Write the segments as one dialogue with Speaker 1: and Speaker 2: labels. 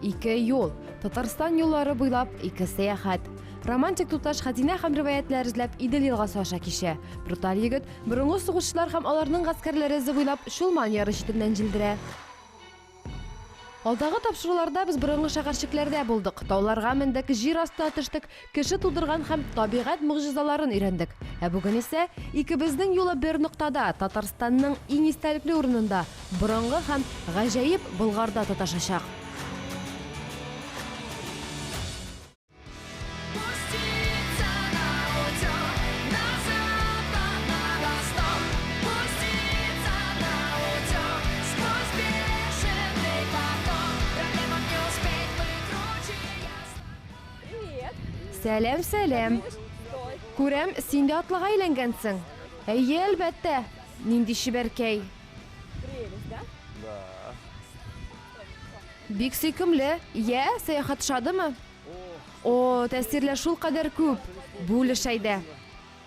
Speaker 1: Ике юл. Татарстан юллары буйлап ике сәяхәт. Романтик туташ хәзинә һәм риваятьләр эзләп Идел елгасы аша кичә. Бруталь егет борынгы сугышчылар һәм аларның гаскәрләре эзе буйлап Чулман яры читеннән җилдерә. Алдагы тапшыруларда без борынгы шәһәрчекләрдә булдык, тауларга мендек, җир астына төштек, Кеше тудырган һәм табигать могҗизаларын өйрәндек. Ә бүген исә, икебезнең юлы бер ноктада, Татарстанның иң истәлекле урынында, борынгы һәм гаҗәеп Болгарда тоташачак. Сәләм, сәләм. Күрәм, син дә атлыга әйләнгәнсең. Әйе, әлбәттә. Нинди чибәркәй. Бик сөйкемле. Йә, сәяхәт шадымы? О, тәэсирләр шул кадәр күп. Бүлеш әйдә.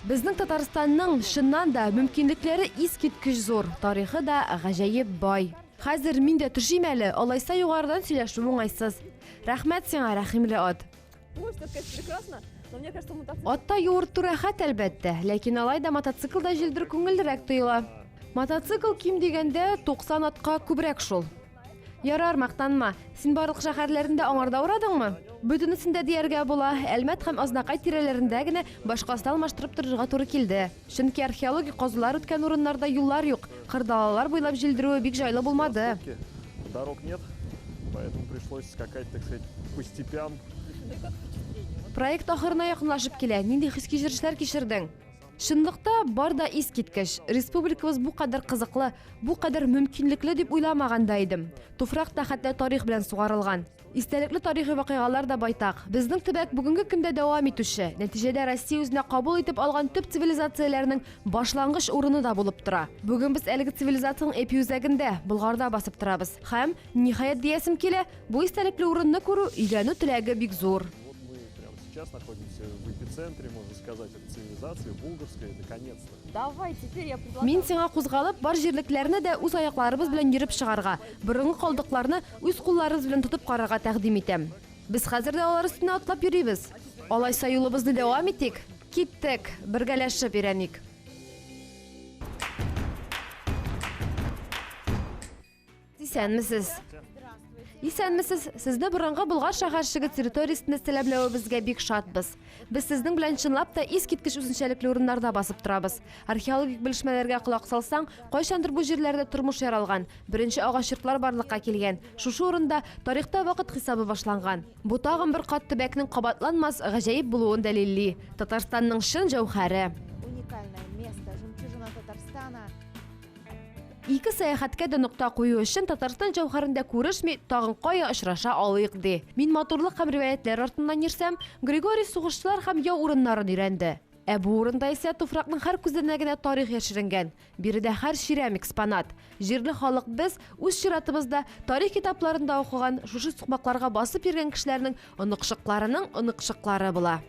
Speaker 1: Безнең Татарстанның чыннан да мөмкинлекләре искиткеч зур, тарихы да гаҗәеп бай. Хәзер мин дә төшим әле, алайса югарыдан сөйләшү уңайсыз. Рәхмәт сиңа, рәхимле ат. Атта юырту рәхәт, әлбәттә, ләкин алай да мотоциклда җилдер күңеллерәк тоела. Мотоцикл ким дигәндә 90 атка күбрәк шул. Ярар, мактанма. Син барлык шәһәрләрендә аңарда урадыңмы? Бөтенесендә дияргә була, Әлмәт һәм Азнакай тирәләрендә генә башкасын алмаштырып торырга туры килде. Чөнки археологик казулар үткән урыннарда юллар юк, кыр далалар буйлап җилдерүе бик җайлы булмады. Проект ахырына якынлашып килә. Нинди хис-кичерешләр кичердең? Чынлыкта, бар да искиткеч. Республикабыз бу кадәр кызыклы, бу кадәр мөмкинлекле дип уйламаган да идем. Туфрак та хәтта тарих белән сугарылган. Истәлекле тарихи вакыйгалар да байтак. Безнең төбәк, бүгенге көндә дәвам итүче, нәтиҗәдә Россия үзенә кабул итеп алган төп цивилизацияләрнең башлангыч урыны да булып тора. Бүген без әлеге цивилизациянең эпиүзәгендә, Болгарда басып торабыз. Һәм, ниһаять диясем килә, бу истәлекле урынны күрү, өйрәнү теләге бик зур. сейчас
Speaker 2: находимся в эпицентре, можно сказать, этой цивилизации, Булгарской, наконец-то. Давай, теперь я
Speaker 3: предлагаю... Мин сиңа кузгалып, бар
Speaker 1: җирлекләрне дә үз аякларыбыз белән йөреп чыгарга, борынгы калдыкларны, Үз кулларыгыз белән тотып карарга тәкъдим итәм. Без хәзер дә алар өстенә атлап йөрибез. Алайса юлыбызны дәвам итик. Киттек, бергәләшеп өйрәник! Исәнмесез! Исәнмесез! Сезне борынгы Болгар шәһәрчеге территориясендә сәламләвебезгә бик шатбыз. Без сезнең белән чынлап та искиткеч үзенчәлекле урыннарда басып торабыз. Археологик белешмәләргә колак салсаң, кайчандыр бу җирләрдә тормыш яралган, беренче агач йортлар барлыкка килгән, шушы урында тарихта вакыт хисабы башланган. Бу тагын бер кат төбәкнең кабатланмас гаҗәеп булуын дәлилли, Татарстанның чын җәүһәре. Ике сәяхәткә дә нокта кую өчен Татарстан җәүһәрендә күрешми, тагын кая очраша алыйк ди. Мин матурлык һәм риваятьләр артыннан йөрсәм, Григорий сугышчылар һәм яу урыннарын өйрәнде. Ә бу урында исә туфракның һәр күзәнәгенә тарих яшеренгән. Биредә һәр чирәм экспонат. Җирле халык без, үз чиратыбызда, тарих китапларында укыган, шушы сукмакларга басып йөргән кешеләрнең оныкчыкларының оныкчыклары була.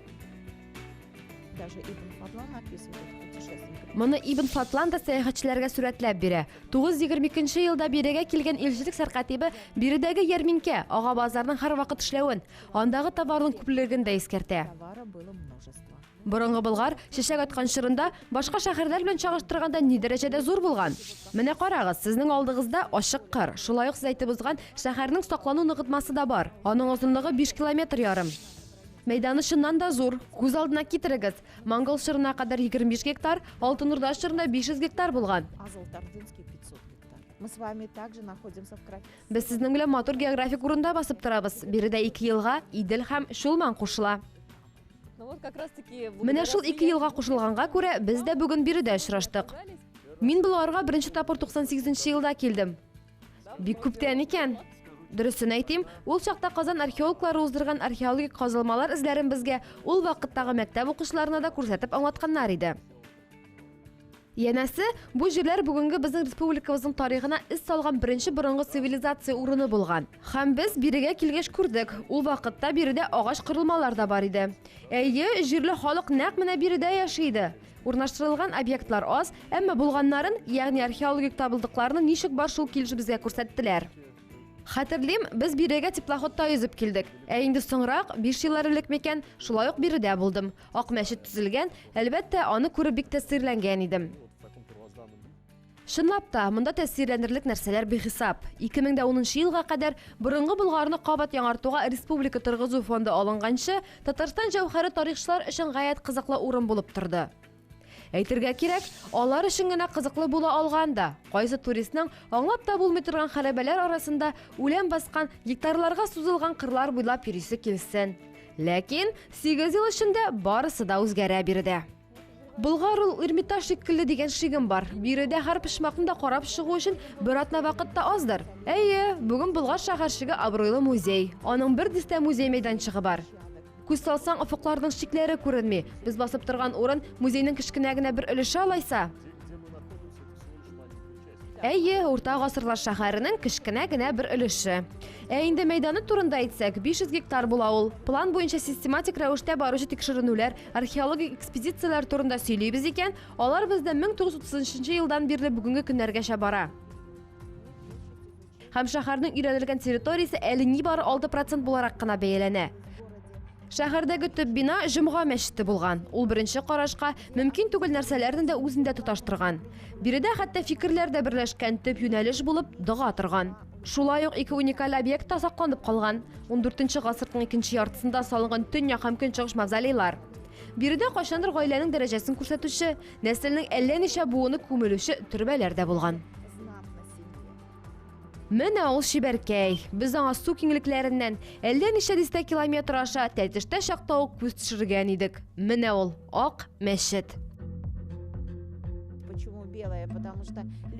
Speaker 3: Моны Ибн Фатлан
Speaker 1: да сәяхәтчеләргә сурәтләп бирә. 922 елда бирегә килгән илчелек сәркатибе биредәге ярминкә, ага базарның һәрвакыт эшләвен, андагы товарның күплелеген дә искәртә.
Speaker 3: Борынгы Болгар
Speaker 1: чәчәк аткан чорында башка шәһәрләр белән чагыштырганда ни дәрәҗәдә зур булган? Менә карагыз, сезнең алдыгызда ачык кыр, шулай ук сез әйтеп узган шәһәрнең саклану ныгытмасы да бар. Аның озынлыгы 5 километр ярым. Мәйданы чыннан да зур. Күз алдына китерегез. Монгол чорына кадәр 25 гектар, Алтын Урда чорында 500 гектар булган.
Speaker 3: Без сезнең белән матур
Speaker 1: географик урында басып торабыз. Биредә ике елга Идел һәм Чулман кушыла.
Speaker 3: Менә шул ике елга
Speaker 1: кушылганга күрә без дә бүген биредә очраштык. Мин боларга беренче тапкыр 98 елда килдем. Бик күптән икән. Дөресен әйтим, ул чакта Казан археологлары уздырган археологик казылмалар эзләрен безгә ул вакыттагы мәктәп укучыларына да күрсәтеп аңлатканнар иде. Янәсе, бу җирләр бүгенге безнең республикабызның тарихына эз салган беренче борынгы цивилизация урыны булган. Һәм без бирегә килгәч күрдек, ул вакытта биредә агач корылмалар да бар иде. Әйе, җирле халык нәкъ менә биредә яши иде. Урнаштырылган объектлар аз, әмма булганнарын, ягъни археологик табылдыкларны ничек бар шул килеш безгә күрсәттеләр. Хәтерлим, без бирегә теплоходта йөзеп килдек. Ә инде соңрак, биш еллар элек микән, шулай ук биредә булдым. Ак мәчет төзелгән, әлбәттә, аны күреп бик тәэсирләнгән идем.
Speaker 2: Чынлап та,
Speaker 1: монда тәэсирләнерлек нәрсәләр бихисап. 2010 елга кадәр борынгы Болгарны кабат яңартуга республика торгызу фонды алынганчы, Татарстан җәүһәре тарихчылар өчен гаять кызыклы урын булып торды. Әйтергә кирәк, алар өчен генә кызыклы була алган да, кайсы туристның аңлап та булмый торган хәрабәләр арасында үлән баскан, гектарларга сузылган кырлар буйлап йөрисе килсен. Ләкин сигез ел эчендә барысы да үзгәрә бирде. Болгар ул Эрмитаж шикелле дигән шигем бар. Биредә һәр почмакны да карап чыгу өчен бер атна вакыт та аздыр. Әйе, бүген Болгар шәһәрчеге абруйлы музей. Аның бер дистә музей мәйданчыгы бар. Күз салсаң, офыкларның чикләре күренми. Без басып торган урын музейның кечкенә генә бер өлеше алайса.
Speaker 2: Әйе, урта гасырлар
Speaker 1: шәһәренең кечкенә генә бер өлеше. Ә инде мәйданы турында әйтсәк, 500 гектар була ул. План буенча систематик рәвештә баручы тикшеренүләр, археологик экспедицияләр турында сөйлибез икән, алар бездә 1930 елдан бирле бүгенге көннәргәчә бара. Һәм шәһәрнең өйрәнелгән территориясе әле нибары 6 процент буларак кына бәяләнә. Шәһәрдәге төп бина Җомга мәчете булган. Ул беренче карашка мөмкин түгел нәрсәләрне дә үзендә тоташтырган. Биредә хәтта фикерләр дә берләшкән, төп юнәлеш булып дога торган. Шулай ук ике уникаль объект та сакланып калган. 14 гасырның икенче яртысында салынган төньяк һәм көнчыгыш мавзолейлар. Биредә кайчандыр гаиләнең дәрәҗәсен күрсәтүче, нәселнең әллә ничә буыны күмелүче төрбәләр дә булган.
Speaker 3: Менә ул
Speaker 1: чибәркәй. Без аңа су киңлекләреннән әллә ничә дистә километр аша тәтештә чакта ук күз төшергән идек. Менә ул Ак мәчет.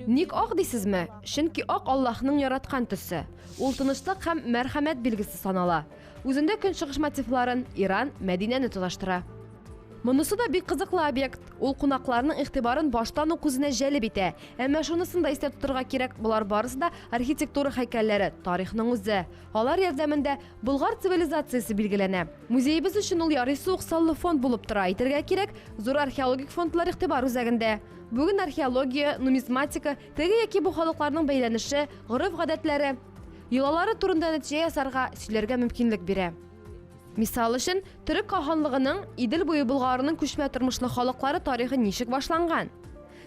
Speaker 3: Ник ак дисезме?
Speaker 1: Чөнки ак Аллаһның яраткан төсе. Ул тынычлык һәм мәрхәмәт билгесе санала. Үзендә көнчыгыш мотивларын Иран, Мәдинәне тоташтыра. Монысы да бик кызыклы объект. Ул кунакларның игътибарын баштан ук үзенә җәлеп итә. Әмма шунысын да истә тотарга кирәк, болар барысы да архитектура хәйкәлләре, тарихның үзе. Алар ярдәмендә Болгар цивилизациясе билгеләнә. Музеебез өчен ул ярыйсы ук саллы фонд булып тора. Әйтергә кирәк, зур археологик фондлар игътибар үзәгендә. Бүген археология, нумизматика, теге яки бу халыкларның бәйләнеше, гореф-гадәтләре, йолалары турында нәтиҗә ясарга, сөйләргә мөмкинлек бирә. Мисал өчен, Төрек каханлыгының Идел буе Болгарының күчмә тормышлы халыклары тарихы ничек башланган?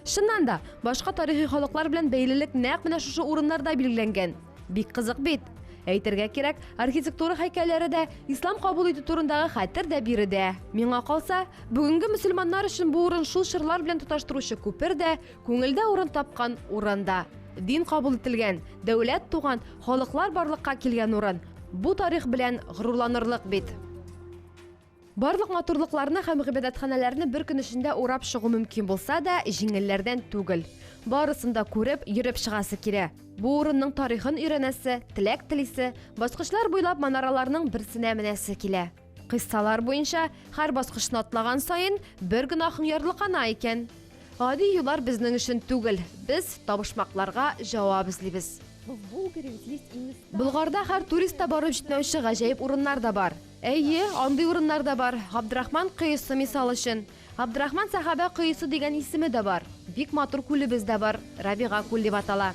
Speaker 1: Чыннан да, башка тарихи халыклар белән бәйлелек нәкъ менә шушы урыннарда билгеләнгән. Бик кызык бит. Әйтергә кирәк, архитектура һәйкәлләре дә, ислам кабул итү турындагы хәтер дә биредә. Миңа калса, бүгенге мөселманнар өчен бу урын шул чорлар белән тоташтыручы күпер дә, күңелдә урын тапкан урын да. Дин кабул ителгән, дәүләт туган, халыклар барлыкка килгән урын. Бу тарих белән горурланырлык бит. Барлык матурлыкларны һәм гыйбадәтханәләрне бер көн эчендә урап чыгу мөмкин булса да, җиңелләрдән түгел. Барысын да күреп, йөреп чыгасы килә. Бу урынның тарихын өйрәнәсе, теләк телисе, баскычлар буйлап манараларның берсенә менәсе килә. Кыйссалар буенча, һәр баскычны атлаган саен бер гөнаһың ярлыкана икән. Гади юллар безнең өчен түгел, без табышмакларга җавап эзлибез.
Speaker 3: Болгарда һәр турист
Speaker 1: та барып җитмәүче гаҗәеп урыннар да бар. Әйе, андый урыннар да бар. Габдрахман коесы, мисал өчен. Габдрахман сәхабә коесы дигән исеме дә бар. Бик матур күлебез дә бар, Рабига күл дип атала.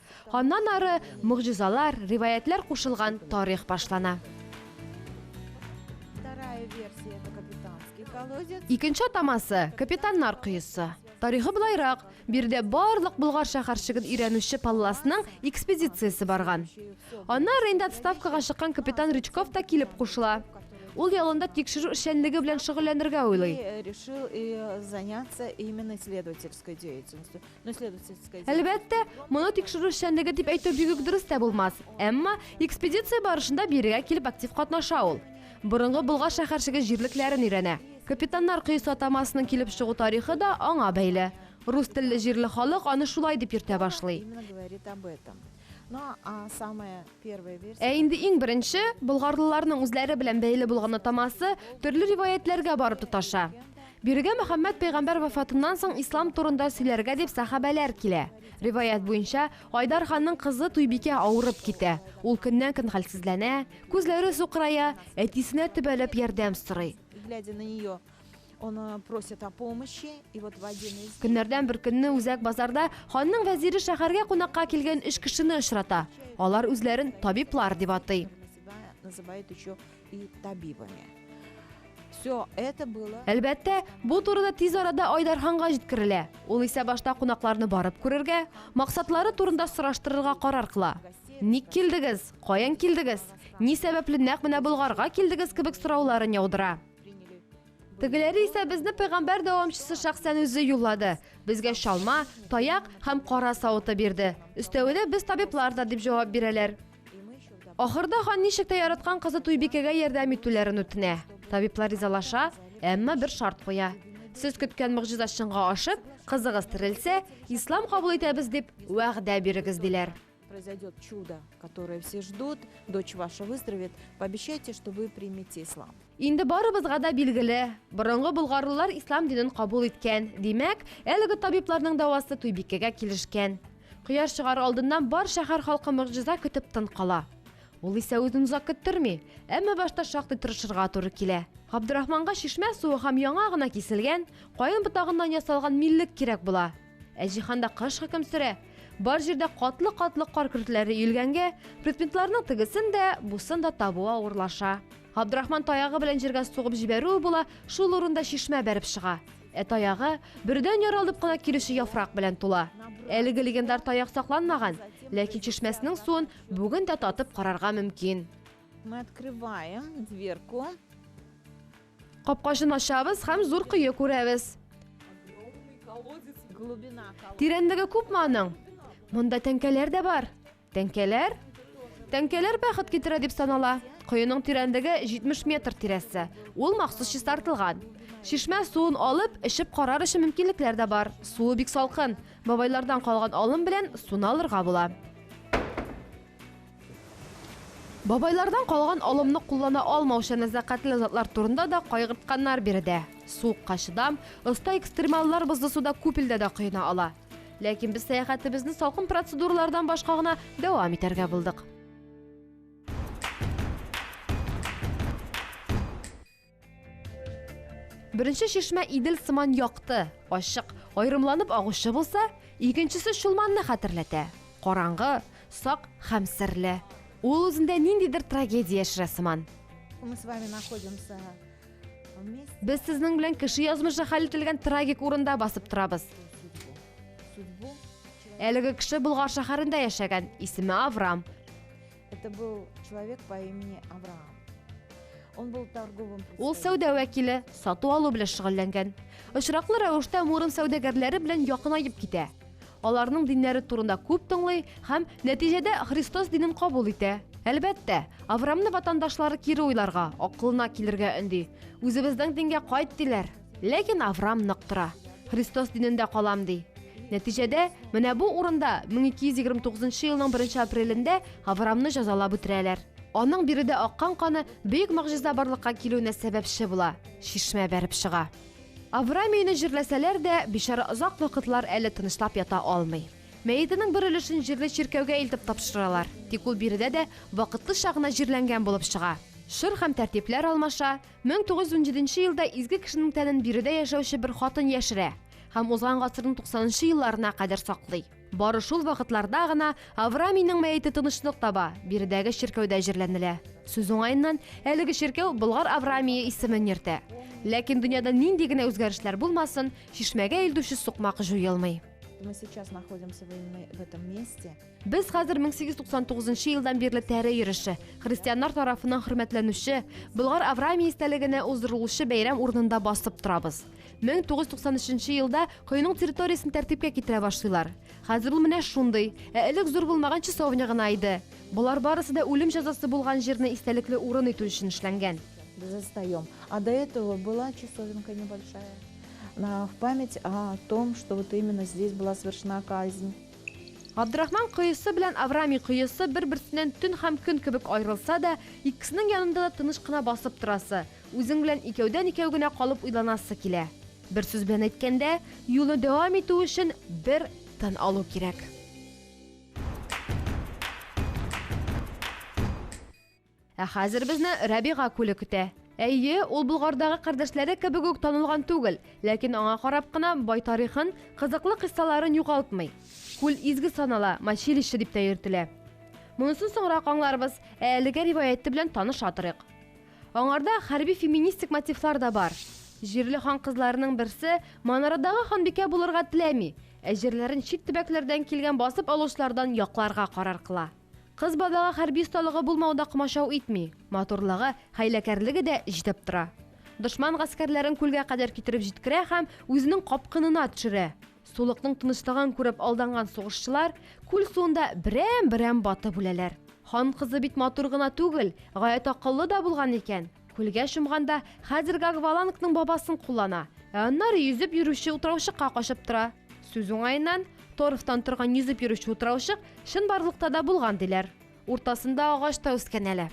Speaker 1: Аннан ары могҗизалар, риваятьләр кушылган тарих башлана.
Speaker 3: Икенче атамасы,
Speaker 1: капитаннар коесы. Тарихы болайрак, биредә барлык Болгар шәһәрчеген өйрәнүче Палласның экспедициясе барган. Аннары инде отставкага чыккан капитан Рычков та килеп кушыла. Ул ялында тикшерү эшчәнлеге белән шөгыльләнергә уйлый. решил и
Speaker 3: заняться именно исследовательской деятельностью. Әлбәттә, моны
Speaker 1: тикшерү эшчәнлеге дип әйтү бик үк дөрес тә булмас. Әмма экспедиция барышында бирегә килеп актив катнаша ул. Борынгы Болгар шәһәрчеге җирлекләрен өйрәнә. Капитаннар коесы атамасының килеп чыгу тарихы да аңа бәйле. Рус телле җирле халык аны шулай дип йөртә башлый.
Speaker 3: Ә инде иң беренче,
Speaker 1: болгарлыларның үзләре белән бәйле булган атамасы төрле риваятьләргә барып тоташа. Бирегә Мөхәммәд пәйгамбәр вафатыннан соң ислам турында сөйләргә дип сәхабәләр килә. Риваять буенча, Айдар ханның кызы Туйбикә авырып китә. Ул көннән-көн хәлсезләнә, күзләре сукырая, әтисенә төбәлеп ярдәм сорый.
Speaker 3: Көннәрдән бер көнне үзәк
Speaker 1: базарда ханның вәзире шәһәргә кунакка килгән өч кешене очрата. Алар үзләрен табиблар дип атый.
Speaker 3: Әлбәттә, бу
Speaker 1: турыда тиз арада Айдар ханга җиткерелә. Ул исә башта кунакларны барып күрергә, максатлары турында сораштырырга карар кыла. Ник килдегез? Каян килдегез? Ни сәбәпле нәкъ менә Болгарга килдегез кебек сорауларын яудыра. Тегеләре исә безне пәйгамбәр дәвамчысы шәхсән үзе юллады. Безгә чалма, таяк һәм кара савыты бирде. Өстәвенә без табиблар да, дип җавап бирәләр. Ахырда хан ничек тә яраткан кызы Туйбикәгә ярдәм итүләрен үтенә. Табиблар ризалаша, әмма бер шарт куя. Сез көткән могҗиза чынга ашып, кызыгыз терелсә, ислам кабул итәбез, дип вәгъдә бирегез, диләр. Произойдет чудо,
Speaker 3: которое все ждут, дочь ваша выздоровеет, пообещайте, что вы примете ислам. Инде барыбызга
Speaker 1: да билгеле, борынгы болгарлылар ислам динен кабул иткән. Димәк, әлеге табибларның дәвасы Туйбикәгә килешкән. Кояш чыгар алдыннан бар шәһәр халкы мөгъҗиза көтеп тын кала. Ул исә үзен озак көттерми, әмма башта шактый тырышырга туры килә. Габдурахманга чишмә суы һәм яңа гына киселгән, каен ботагыннан ясалган миллек кирәк була. Ә җиһанда кыш хөкем сөрә. Бар җирдә катлы-катлы кар көртләре өелгәнгә, предметларның тегесен дә, бусын да табу авырлаша. Габдрахман таягы белән җиргә сугып җибәрүе була, шул урында чишмә бәреп чыга. Ә таягы бердән яралып кына килүче яфрак белән тула. Әлеге легендар таяк сакланмаган, ләкин чишмәсенең суын бүген дә татып карарга мөмкин. Мы
Speaker 3: открываем дверку. Капкачын
Speaker 1: ачабыз һәм зур кое күрәбез.
Speaker 3: Тирәнлеге күпме аның?
Speaker 1: Монда тәңкәләр дә бар. Тәңкәләр? Тәңкәләр бәхет китерә дип санала. Коеның тирәнлеге 70 метр тирәсе. Ул махсус чистартылган. Чишмә суын алып, эчеп карар өчен мөмкинлекләр дә бар. Суы бик салкын. Бабайлардан калган алым белән суны алырга була. Бабайлардан калган алымны куллана алмаучы нәзакәтле затлар турында да кайгыртканнар биредә. Суыкка чыдам, оста экстремаллар бозлы суда күп илдә дә коена ала. Ләкин без сәяхәтебезне салкын процедуралардан башка гына дәвам итәргә булдык. Беренче чишмә Идел сыман якты, ачык, аерымланып агучы булса, икенчесе Чулманны хәтерләтә. Караңгы, сак һәм серле. Ул үзендә ниндидер трагедия яшерә сыман.
Speaker 3: Без сезнең белән
Speaker 1: кеше язмышы хәл ителгән трагик урында басып торабыз.
Speaker 3: Әлеге
Speaker 1: кеше Болгар шәһәрендә яшәгән, исеме Аврам. Это
Speaker 3: был человек по имени Авраам. Он был торговым Ул сәүдә вәкиле, сату
Speaker 1: алу белән шөгыльләнгән. Очраклы рәвештә Муром сәүдәгәрләре белән якынаеп китә. Аларның диннәре турында күп тыңлый һәм нәтиҗәдә Христос динен кабул итә. Әлбәттә, Аврамны ватандашлары кире уйларга, акылына килергә өнди. Үзебезнең дингә кайт диләр. Ләкин Авраам нык тора. Христос динендә калам, ди. Нәтиҗәдә, менә бу урында 1229 елның 1 апрелендә Авраамны җәзалап үтерәләр. Аның биредә аккан каны бөек могҗиза барлыкка килүенә сәбәпче була, чишмә бәреп чыга. Авраам өенә җирләсәләр дә, бичара озак вакытлар әле тынычлап ята алмый. Мәетенең бер өлешен җирле чиркәүгә илтеп тапшыралар, тик ул биредә дә вакытлыча гына җирләнгән булып чыга. Чор һәм тәртипләр алмаша, Мең тугыз йөз унҗиденче елда изге кешенең тәнен биредә яшәүче бер хатын яшерә һәм узган гасырның туксанынчы елларына кадәр саклый. Бары шул вакытларда гына Аврамийның мәете тынычлык таба, биредәге чиркәүдә җирләнелә. Сүз уңаеннан, әлеге чиркәү Болгар Аврамие исемен йөртә. Ләкин дөньяда нинди генә үзгәрешләр булмасын, чишмәгә илтүче сукмак җуелмый. Мы сейчас
Speaker 3: находимся в этом месте. Без хәзер
Speaker 1: 1899 елдан бирле тәре йөреше, христианнар тарафыннан хөрмәтләнүче Болгар Авраамия истәлегенә уздырылучы бәйрәм урынында басып торабыз. 1993 елда коеның территориясен тәртипкә китерә башлыйлар. Хәзер ул менә шундый, ә элек зур булмаган часовня гына иде. Болар барысы да үлем җәзасы булган җирне истәлекле урын итү өчен эшләнгән. Застаем.
Speaker 3: А до этого была часовенка небольшая. На, в память о том, что вот именно здесь была совершена казнь. Габдрахман
Speaker 1: коесы белән Авраамий коесы бер-берсеннән төн һәм көн кебек аерылса да, икесенең янында да тыныч кына басып торасы, үзең белән икәүдән-икәү генә калып уйланасы килә. Бер сүз белән әйткәндә, юлны дәвам итү өчен бер тын алу кирәк. Ә хәзер безне Рәбига күле көтә. Әйе, ул Болгардагы кардәшләре кебек үк танылган түгел, ләкин аңа карап кына бай тарихын, кызыклы кыйссаларын югалтмый. Күл изге санала, мочилище дип тә йөртелә. Монысын соңрак аңларбыз, ә әлегә риваяте белән таныша торыйк. Аңарда хәрби-феминистик мотивлар да бар. Җирле хан кызларының берсе Манарадагы ханбикә булырга теләми, ә җирләрен чит төбәкләрдән килгән басып алучылардан якларга карар кыла. Кыз бабага хәрби осталыгы булмау да комачау итми, матурлыгы, хәйләкәрлеге дә җитеп тора. Дошман гаскәрләрен күлгә кадәр китереп җиткерә һәм үзенең капкынына төшерә. Сулыкның тынычлыгын күреп алданган сугышчылар күл суында берәм-берәм батып үләләр. Хан кызы бит матур гына түгел, гаять акыллы да булган икән. Күлгә чумганда, хәзерге аквалангның бабасын куллана, ә аннары йөзеп йөрүче утраучыкка качып тора. Сүз уңаеннан, торфтан торган йөзеп йөрүче утраучык чынбарлыкта да булган, диләр. Уртасында агач та үскән әле.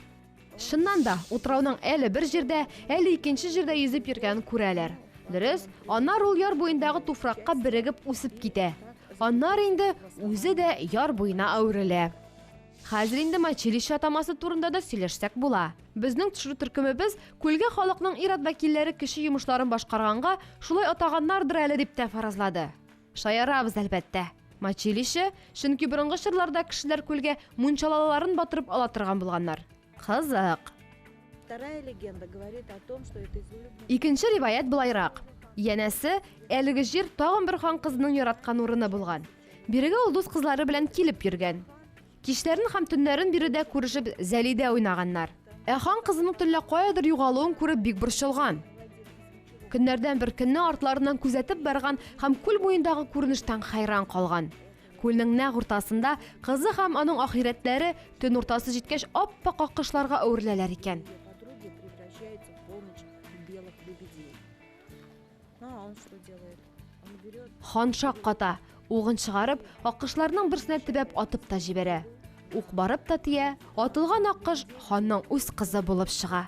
Speaker 1: Чыннан да, утрауның әле бер җирдә, әле икенче җирдә йөзеп йөргәнен күрәләр. Дөрес, аннары ул яр буендагы туфракка берегеп үсеп китә. Аннары инде үзе дә яр буена әверелә. Хәзер инде Мачилище атамасы турында да сөйләшсәк була. Безнең төшерү төркемебез күлгә халыкның ир-ат вәкилләре кече йомышларын башкарганга, шулай атаганнардыр әле дип тә фаразлады. Шаярабыз, әлбәттә. Мачилище, чөнки борынгы чорларда кешеләр күлгә мунчалаларын батырып ала торган булганнар. Кызык. Вторая
Speaker 3: легенда говорит о том, что это изумрудный... Икенче риваять
Speaker 1: былайрак. Янәсе, әлеге җир тагын бер хан кызының яраткан урыны булган. Бирегә ул дус кызлары белән килеп йөргән. Кичләрен һәм төннәрен биредә күрешеп зәлидә уйнаганнар. Ә хан кызының төнлә каядыр югалуын күреп бик борчылган. Көннәрдән бер көнне артларыннан күзәтеп барган һәм күл буендагы күренештән хәйран калган. Күлнең нәкъ уртасында кызы һәм аның ахирәтләре төн уртасы җиткәч ап-ак аккошларга әвереләләр икән.
Speaker 3: Хан шак ката,
Speaker 1: угын чыгарып, аккошларның берсенә төбәп атып та җибәрә. Ук барып та тия, атылган аккош ханның үз кызы булып чыга.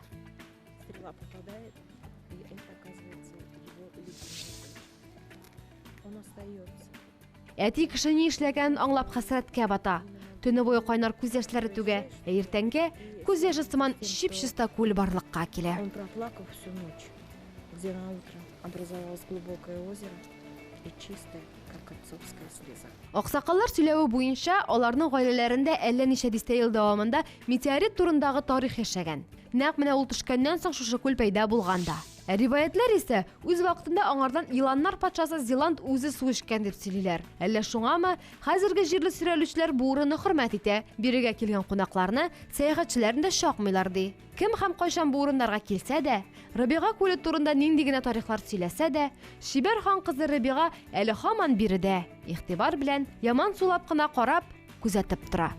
Speaker 3: Әти
Speaker 1: кеше ни эшләгәнен аңлап хәсрәткә бата. Төне буе кайнар күз яшьләре түгә, ә иртәнгә күз яше сыман чип-чиста күл барлыкка килә. Он проплакал всю
Speaker 3: ночь, где на утро образовалось глубокое озеро и чистое, как отцовская слеза. Аксакаллар сөйләве
Speaker 1: буенча, аларның гаиләләрендә әллә ничә дистә ел дәвамында метеорит турындагы тарих яшәгән. Нәкъ менә ул төшкәннән соң шушы күл пәйда булган да. Ә риваятьләр исә, үз вакытында аңардан еланнар патшасы Зиланд үзе су эчкән дип сөйлиләр. Әллә шуңамы, хәзерге җирле сөрәлүчеләр бу урынны хөрмәт итә, бирегә килгән кунакларны, сәяхәтчеләрне дә чакмыйлар, ди. Кем һәм кайчан бу урыннарга килсә дә, Рыбига күле турында нинди генә тарихлар сөйләсә дә, чибәр хан кызы Рыбига әле һаман биредә, игътибар белән, яман сулап кына карап, күзәтеп тора.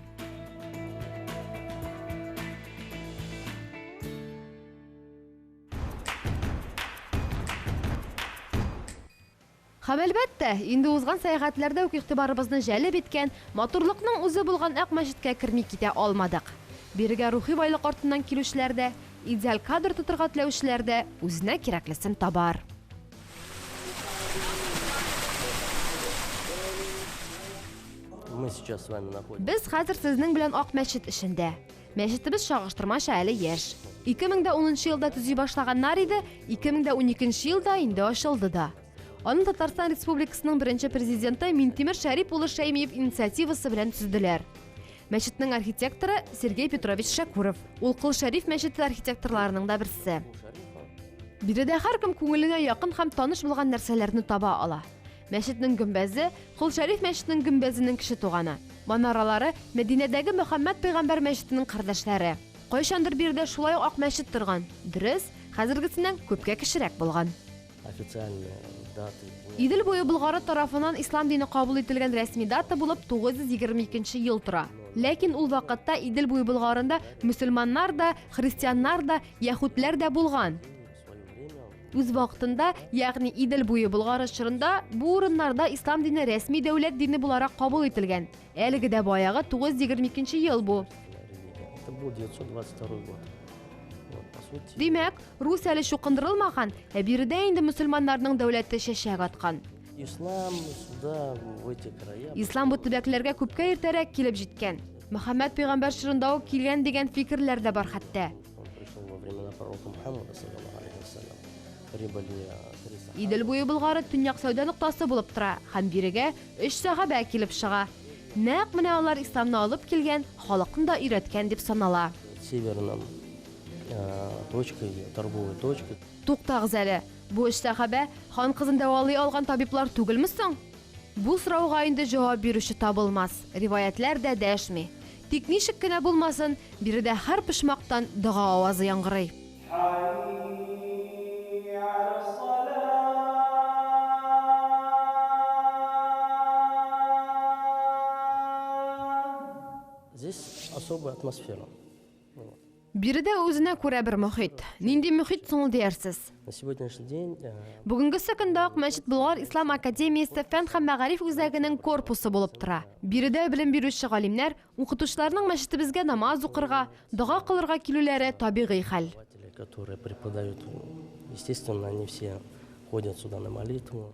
Speaker 1: Һәм, әлбәттә, инде узган сәяхәтләрдә үк игътибарыбызны җәлеп иткән, матурлыкның үзе булган Ак мәчеткә керми китә алмадык. Бирегә рухи байлык артыннан килүчеләр дә, идеаль кадр тотырга теләүчеләр дә үзенә кирәклесен табар.
Speaker 4: Без хәзер сезнең белән
Speaker 1: Ак мәчет эчендә. Мәчетебез чагыштырмача әле яшь. 2010 елда төзи башлаганнар иде, 2012 елда инде ачылды да. Аны Татарстан Республикасының беренче президенты Минтимер Шәрип улы Шәймиев инициативасы белән төзделәр. Мәчетнең архитекторы Сергей Петрович Шәкүров. Ул Кыл Шәриф мәчете архитекторларының да берсе. Биредә һәркем күңеленә якын һәм таныш булган нәрсәләрне таба ала. Мәчетнең гөмбәзе, Кол Шәриф мәчетнең гөмбәзенең кече туганы. Манаралары, Мәдинәдәге Мөхәммәд пәйгамбәр мәчетенең кардәшләре. Кайчандыр биредә шулай ук ак мәчет торган, дөрес, хәзергесеннән күпкә кечерәк булган.
Speaker 4: Идел буе Болгары
Speaker 1: тарафыннан ислам дине кабул ителгән рәсми дата булып 922 ел тора. Ләкин ул вакытта Идел буе Болгарында мөселманнар да, христианнар да, яһүдләр дә булган. Үз вакытында, ягъни Идел буе Болгары чорында бу урыннарда ислам дине рәсми дәүләт дине буларак кабул ителгән. Әлеге дә баягы 922 ел бу.
Speaker 4: Это был
Speaker 1: 922
Speaker 4: год. Вот,
Speaker 1: по сути...
Speaker 4: Димәк, Рус
Speaker 1: әле чукындырылмаган, ә биредә инде мусульманнарның дәүләте чәчәк аткан. Ислам
Speaker 4: сюда, в эти края... Ислам бу төбәкләргә
Speaker 1: күпкә иртәрәк килеп җиткән. Мөхәммәд пәйгамбәр чорында ук килгән дигән фикерләр дә бар хәтта.
Speaker 4: Идел буе Болгары
Speaker 1: төньяк сәүдә ноктасы булып тора һәм бирегә өч сәхабә килеп чыга. Нәкъ менә алар исламны алып килгән, халыкны да өйрәткән дип санала.
Speaker 4: Туктагыз әле,
Speaker 1: бу өч сәхабә хан кызын дәвалый алган табиблар түгелме соң? Бу сорауга инде җавап бирүче табылмас, риваятьләр дә дәшми. Тик ничек кенә булмасын, биредә һәр почмактан дога авазы яңгырый.
Speaker 4: Здесь особая атмосфера. Биредә үзенә
Speaker 1: күрә бер мохит. Нинди мохит соң ул диярсез?
Speaker 4: Бүгенгесе көндә
Speaker 1: Ак мәчет Болгар ислам академиясе фән һәм мәгариф үзәгенең корпусы булып тора. Биредә белем бирүче галимнәр, укытучыларның мәчетебезгә намаз укырга, дога кылырга килүләре табигый хәл.
Speaker 4: Естественно, они все ходят сюда на молитву.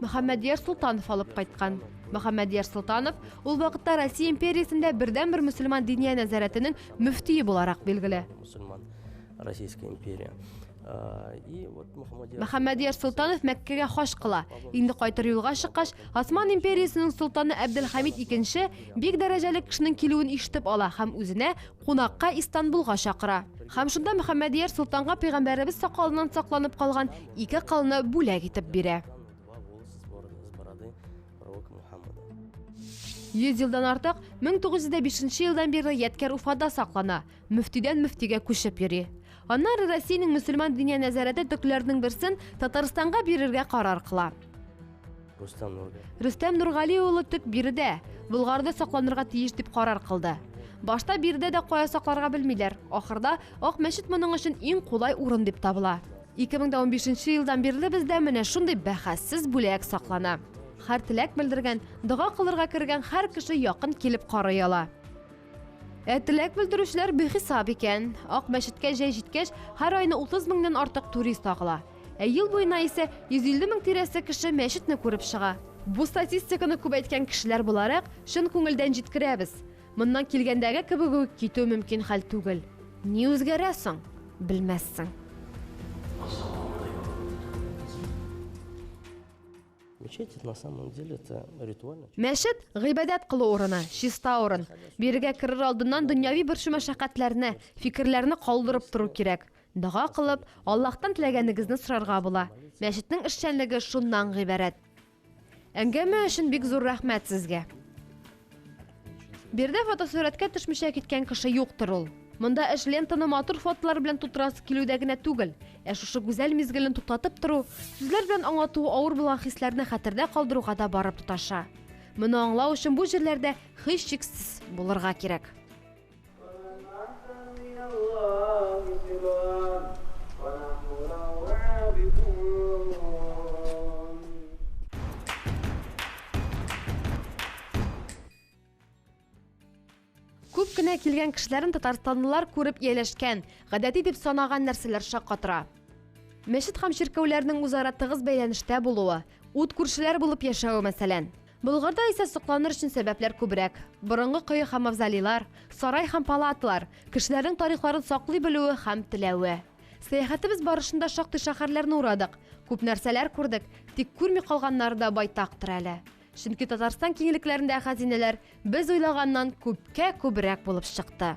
Speaker 1: Мөхәммәдияр Солтанов алып кайткан. Мөхәммәдияр Солтанов ул вакытта Россия империясендә бердәнбер мөселман диния нәзарәтенең мөфтие буларак билгеле.
Speaker 4: Российская империя. Мөхәммәдияр
Speaker 1: Солтанов Мәккәгә хаҗ кыла. Инде кайтыр юлга чыккач, Осман империясенең солтаны Әбделхамид II бик дәрәҗәле кешенең килүен ишетеп ала һәм үзенә кунакка Истанбулга чакыра һәм шунда Мөхәммәдияр солтанга пәйгамбәребез сакалыннан сакланып калган ике кылны бүләк итеп бирә. Йөз елдан артык 1905 елдан бирле ядкәр Уфада саклана, мөфтидән мөфтигә күчеп йөри. Аннары Россиянең мөселман диния нәзарәте төкләренең берсен Татарстанга бирергә карар кыла. Рустам Нургали. Рөстәм Нургали улы төп биредә. Болгарды сакланырга тиеш дип карар кылды. Башта биредә дә кая сакларга белмиләр. Ахырда Ак мәчет моның өчен иң кулай урын дип табыла. 2015 елдан бирле бездә менә шундый бәхәссез бүләк саклана. Хәр теләк белдергән, дога кылырга кергән хәр кеше якын килеп карый ала. Ә теләк белдерүчеләр бихисап икән. Ак мәчеткә җәй җиткәч, һәр айны 30 меңнән артык турист агыла. Ә ел буена исә 150 мең тирәсе кеше мәчетне күреп чыга. Бу статистиканы күп әйткән кешеләр буларак, чын күңелдән җиткерәбез. Моннан килгәндәге кебек үк китү мөмкин хәл түгел. Ни үзгәрә соң? Белмәссең.
Speaker 4: Мәчет, гыйбадәт
Speaker 1: кылу урыны, чиста урын. Бирегә керер алдыннан дөньяви борчу-мәшәкатьләрне, фикерләрне калдырып тору кирәк. Дога кылып, Аллаһтан теләгәнегезне сорарга була. Мәчетнең эшчәнлеге шуннан гыйбарәт. Әңгәмә өчен бик зур рәхмәт сезгә. Биредә фотосурәткә төшмичә киткән кеше юктыр ул. Монда эш лентаны матур фотолар белән тутырасы килүдә генә түгел, ә шушы гүзәл мизгелне туктатып тору, сүзләр белән аңлатуы авыр булган хисләрне хәтердә калдыруга да барып тоташа. Моны аңлау өчен бу җирләрдә, һичшиксез, булырга кирәк. Күп кенә килгән кешеләрен татарстанлылар күреп ияләшкән, гадәти дип санаган нәрсәләр шаккатыра. Мәчет һәм чиркәүләрнең үзара тыгыз бәйләнештә булуы, ут күршеләр булып яшәве мәсәлән. Болгарда исә сокланыр өчен сәбәпләр күбрәк. Борынгы кое һәм мавзолейлар, сарай һәм палатлар, кешеләрнең тарихларын саклый белүе һәм теләве. Сәяхәтебез барышында шактый шәһәрләрне урадык, күп нәрсәләр күрдек, тик күрми калганнары да байтактыр әле. Чөнки Татарстан киңлекләрендәге хәзинәләр без уйлаганнан күпкә күбрәк булып чыкты.